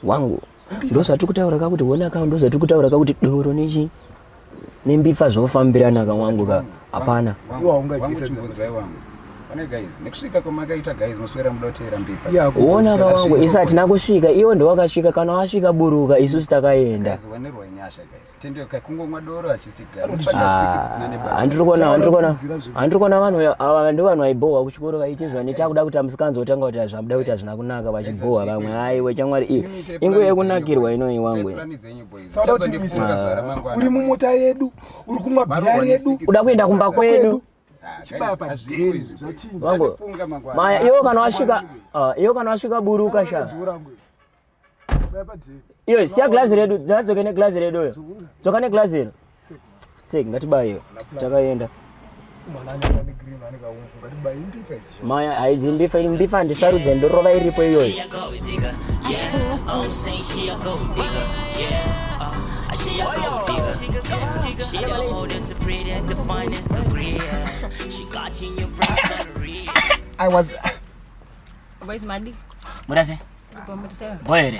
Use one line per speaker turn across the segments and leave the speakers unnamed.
wangu ndozvatiri kutaura ka kuti honaka ndozvatiri kutaura ka kuti doro nechi nembipfa zvofambirana ka wangu ka hapana
uona kawangu isu
hatina kusvika iwo ndowakasvika kana wasvika buruka isusu takaenda
handiri
kuona vanhu ava ndo vanhu vaibhohwa kuchikoro vaiti zvani takuda kuti amusikanzi wotanga kuti hazvabuda kuti hazvina kunaka vachibhohwa vamwe haiwe chamwari iyo inguva yekunakirwa inoyi wangu
uri mumota yedu uri kumwa bhiyari yedu uda kuenda kumba
kwedu maya iwo kana wasvika ah, iwo kana wasvika buruka sha iyo siya glazi redu dzadzoke neglazi redu uyo dzoka neglazi iro tsek ngatibayo takaenda maya haidzi mbifa iri mbifa handisarudze ndorova iripo
iyoyo
murase
boere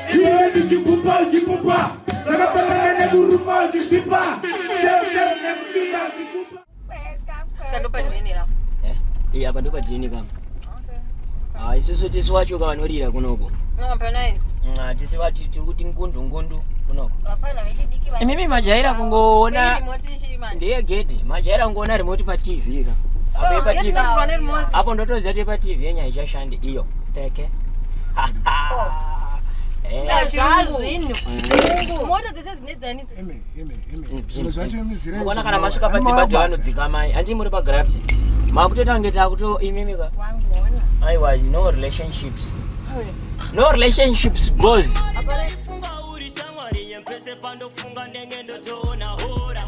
iwewe ndichikupa uchipupa zvakafanana nekuruma uchisipa
eh, apa ndopa
dna kama ah, isusu tisi wacho kavanorira kunoko
tisi vati
tiri kuti ngundu ngundu kunoko
imimi majaira kungoona
ndiye
gedhi majaira
kungoona remote patv ka apo oh, ndotozati patv yenyaya ichashanda iyo pfeke
mukona
kana masvika padzimba dzevanodzika mai handii muri pagraft makutoita kunge takuto imimika aiwa no relationships no relationships goes
pese pandofunga ndenge ndotoona hora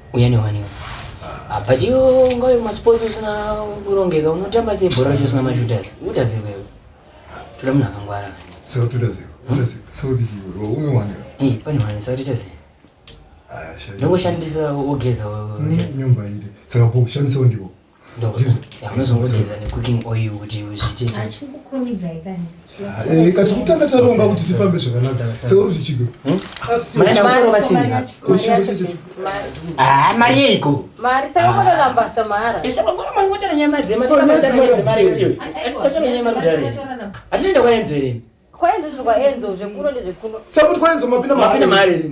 uya newaniwa apa chiyo ungave kumasports usina kurongeka unotamba sei bhora racho usina mashooters unoita sei wewe toda munhu akangwara ndongoshandisa ogeza nyumba
ite saka kushandisawo ndiwo
kati kutanga
taronga kuti tifambe zvakanaka seuri zvichigo
mari yeiko atinoenda kwaenzo here
sakuti kwaenzo mapinda
mari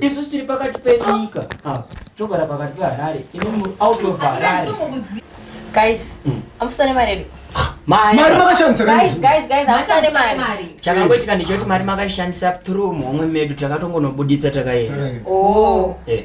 isu tiri pakati penyika ah, togara pakati peharare
iiaushandisachakangoitika ndichoti mari
makaishandisa through muhomwe medu takatongonobuditsa takaenda oh. eh.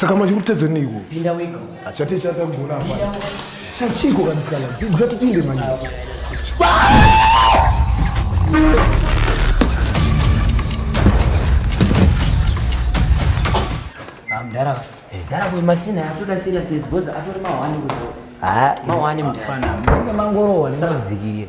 saka manje kutedzwe neiko achati
chakagona
apa chachiko kanisikana dzatipinde manje
mdara mdara kuyi masina atoda seriousness because atori mahwani kuzo mahwani mdara mangorowa
ndisadzikie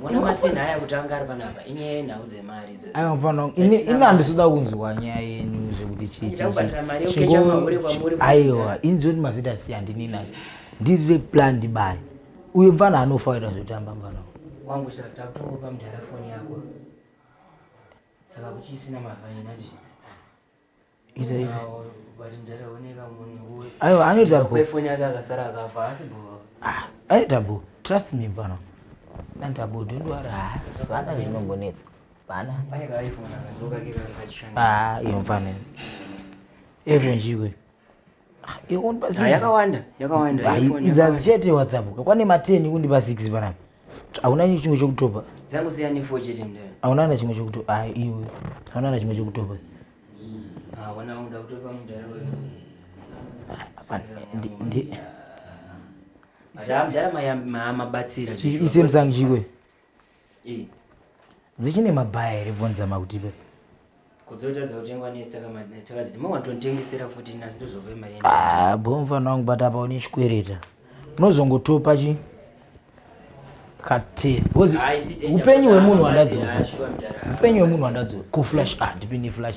Mwana masina haya kuti anga ari panapa inyaya yenhau dzemari idzo. Aiwa mfana ini ini
handisuda kunzwa nyaya yenyu zvekuti chii. Ita kubhadhara mari yokecha
mahure kwamuri. Aiwa ini zvoti
mazita si handini nazvo. Ndiri plan ndibani. Uyo mfana anofa kuita zvotamba mfana. Wangu saka
takutongopa mudhara foni yako. Saka kuchisina mavhainati.
ita ivi
aiwa anoita bho
ah,
anoita bho
trust me pano anoita bho don't worry ah, vana zvinongonetsa vana
ah, iyo mfanira
everyone chiwe yakawanda yakawanda
idzazi
chete whatsapp kakwane ma 10 kundipa 6 panapa hauna chimwe chokutopa dzangu siya ne 4
chete mndana hauna na chimwe chokutopa
ah iwe hauna na chimwe chokutopa ah
wana unga kutopa mndana wewe
ndi Zam
dala mayamba mabatsira. Isemsangjiwe.
Iyi. Dzichine mabhaya here vonza makutipe. Kudzotadza
kutengwa nesi takadziti mawatotengesera futi nasi ndozove maenda. Ah, bomva nangu
bata pa une chikwereta. Unozongotopa chi kati because upenyu hwemunhu wandadzosa. Upenyu hwemunhu wandadzosa. Ku flash ah ndipinde flash.